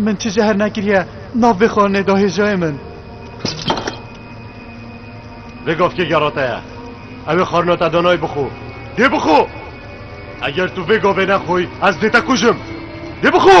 من çi jehr nekiriye nav vê xwarinê da hêjayê min. Vê gavkê gera te ye. Ew ê xwarina te danayê bixwe. Dê bixwe! Eger tu vê gavê nexwî ez dê te kujim. Dê bixwe!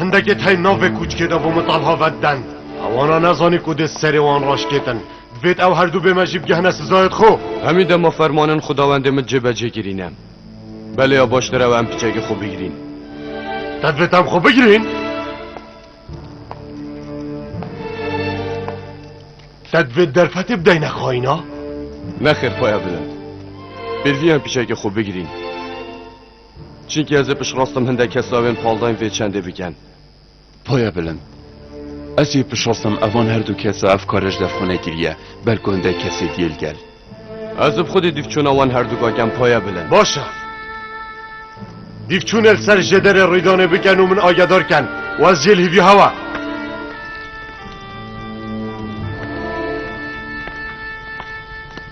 Hindekê tey nav vê kûçkê de bo min Talha vet den. Hewana nezanî ku dê serê wan raşkêtin. Divêt ew herdû bê me jî bigihne sizayê xwe. Hemî dema fermanên xwedawendê min cêbecê kirîne. Belê ya baştir ew em piçekê xwe bigirîn. Te divêt em xwe bigirîn? Te divêt derfetê bideyne xayîna? Nexêr paya bilind. Pêvî em piçekê xwe bigirîn. Çinki ez ê piştrast im hindek kes lawên paldayên vê çendê biken. Poya bilind. Ez ê piştrast im evan her du kes a ev kare ji dev xwe nekiriye, belku hindek kes ê diyê li gel. Ez bi xwedê dîvçûna wan her du gakem poya bilind. Baş e. Dîvçûnê li ser jêderê rîdanê biken û min agedar ken û ez jê li hîvî hewa.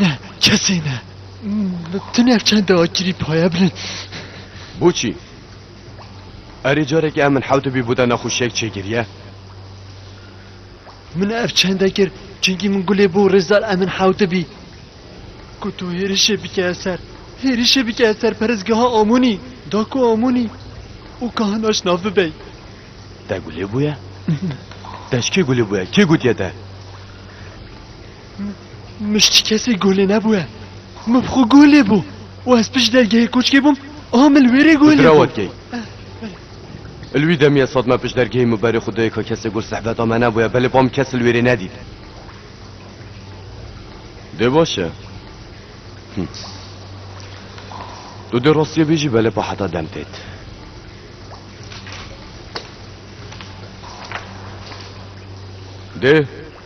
Ne, kesî ne. Tu nev çend akirî paye bilin. Boçî, erê carekê em min hewte bî bûda nexweşiyek çêgiriye. Min ev çende kir çunkî min gulê bû rêzdar em min hewte bî. Ku tu hêrişê bike ser. Hêrişê bike ser perezgeha Amonî. Da ku Amonî û kahinaş nav bibey. Te gulê bûye? Te ji kê gulê bûye? Kê gotiye te? Mişt ji kesê golê nebûye. Min bi xwe golê bû û ez pişt dergehê koçkê bûm a min li wê rê golê bû. Dira wedigey. Li wî demê ez hat me pişt dergehê min berê xwe dayê ka kesê gol sehbeta me nebûye belê ba min kes li wê rê nedît. Dê baş e. Tu dê rastiye bêjî belê pa heta dem têt. Dê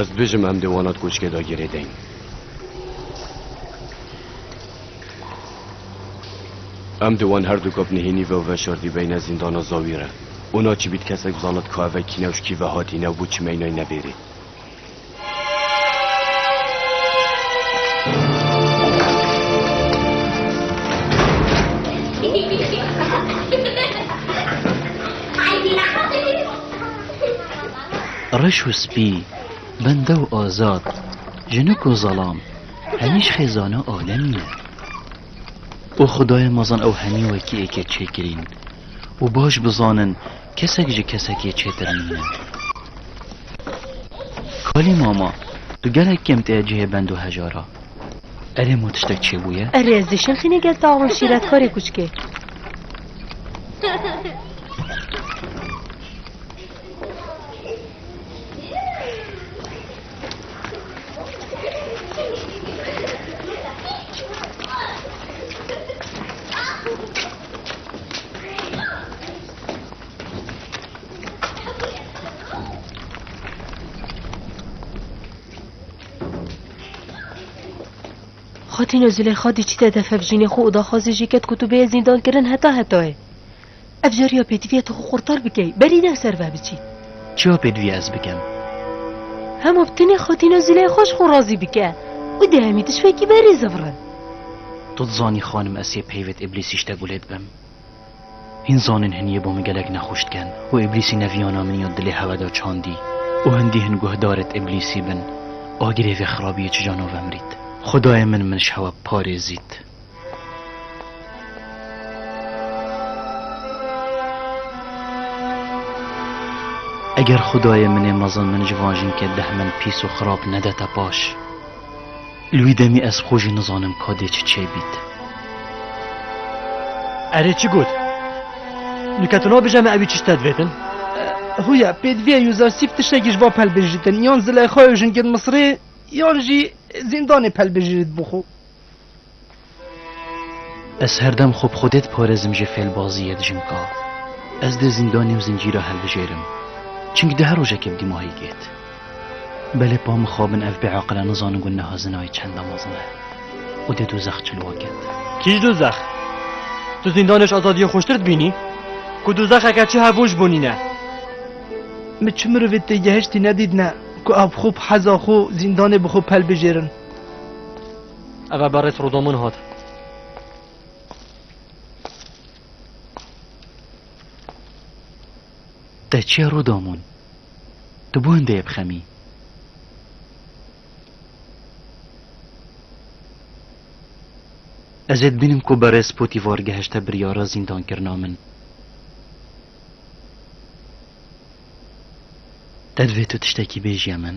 Ez dibêjim em dê wana di koçkê de girê deyin. Em dê wan her du kap nihênî ve û veşardî beyne zîndana zawî re. Ona çi bît kesek bizanit ka ev ve kîne û ji kî ve hatîne û bû çi meynayîne bêrê. Reş û spî, bende û azad, jinik û zelam, hemîş xêzana alemî ne. O Xudayê mezin ew hemî wekî êkê çêkirîn û baş bizanin Kesek ji kesekê çêtir nîne. Kalî mama, tu gelek kêm tê cihê bend û heja ra. Erê mo tiştek çêbûye? Erê ez dê şilxîne gel tax min şîretkarê kûçikê. Xatîno Zilêxa dî çî te defev jînê xwe û daxwazê jî ket ku tu bê zîndan kirin heta hetayê. Ev cariya pêdiviya tu xwe xurtar bikey, berî ne ser ve biçî. Çiya pêdiviya ez bikim? Hema bi tenê Xatîno Zilêxa ji xwe razî bike û di hemî tiştekî berî zivrin. Tu dizanî xanim ez yê peyvêt îblîsî ştek wê lê dibim. Hîn zanên hiniyê bo min gelek nexweş diken û îblîsî neviyana min ya dilê hewe da çandî û hindî hin guhdarêt îblîsî bin agirê vê xirabiyê çija no vemrît. Xwedayê min min ji hewe parêzît. Eger xwedayê min ê mezin min ji van jinke deh min pîs û xirab nedete paş. Li wî demê ez xwe jî nizanim ka dê çi çê bît. Erê çi got? Nuke tu nabêje me ewî çi ji te divêtin? Huya pê divê Yûzasîf tiştekî ji wan pelbijîritin, yan Zileyxa û jingên Misirê yan jî zîndanê pelbijîritbû xwe. Ez herdem xwe bi xwedê diparêzim jê fêlbazî yê dijim ka ez dê zîndanê û zincîra hilbijêrim. Çimkî di her rojekê bi dîmahî gêt. Belê pa mixabin ev bêaqile nizanin ku niha zinayê çenda mezin e û dê dozex cilwa ket. Kî ji dozex? Tu zîndanê ji azadiyê xweştir dibînî? Ku dozexeke çi hebûn ji bo nîn e? Min çi mirovê têgehiştî nedîtne ku ew bi xwe bi heza xwe zîndanê bi xwe pelbijêrin. Eve berês roda min hat. Te çiya roda min? Tu bû hindê bixemî. Ez ê dibînim ku berês Potîvar gehişte biryara zîndankirina min. Te divê tu tiştekî bêjî min?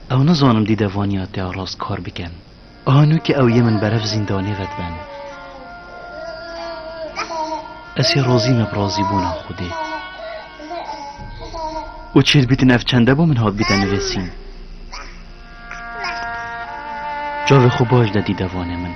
Ew nizanim dî de vaniya te rast kar bikin. A nû ke ew yê min berev zîndanê vediben. Ez hê razî me bi razîbûna Xwedê. Û çêl bîtin ev çende bo min hatbîte nivêsîn. Cavê xwe baş de dî de vane min.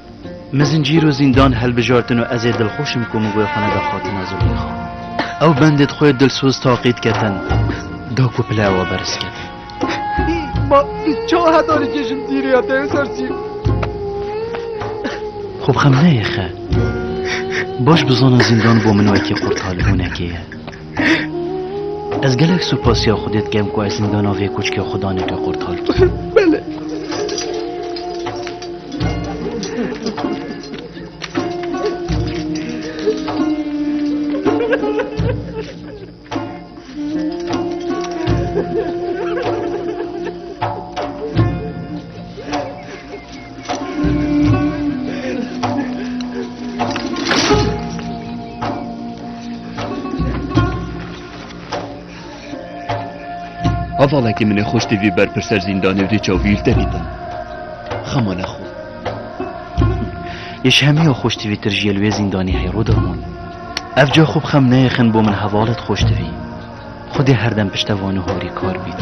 Min zincîr û zîndan hilbijartin û ez ê dilxweş im ku min wê xwe neda Xatina Zuleyxa. Ew bendê di xwe dilsoz taqî diketin da ku pile ewa beriz keve. Ma bi ça heta nikêjim dîrê ya te ser çî. Xwe bi xem neyê xe. Baş bizana zîndan bo min wekî qurtal hûnekê ye. Ez gelek supasiya Xwedê dikem ku ez zindana vê koçkê xwe daneke qurtal kir. Belê. Hevalekî min ê xweş tê vî ber pirser zîndanê û dê çavîl te bîtin. Xema nexwe. Êş hemiya xweş tê vî tir ji yel wê zîndanê heyro dermon. Ev ca xwe bi xem neyexin bo min hevalet xweş tê vî. Xwedê herdem piştevani horî kar bît.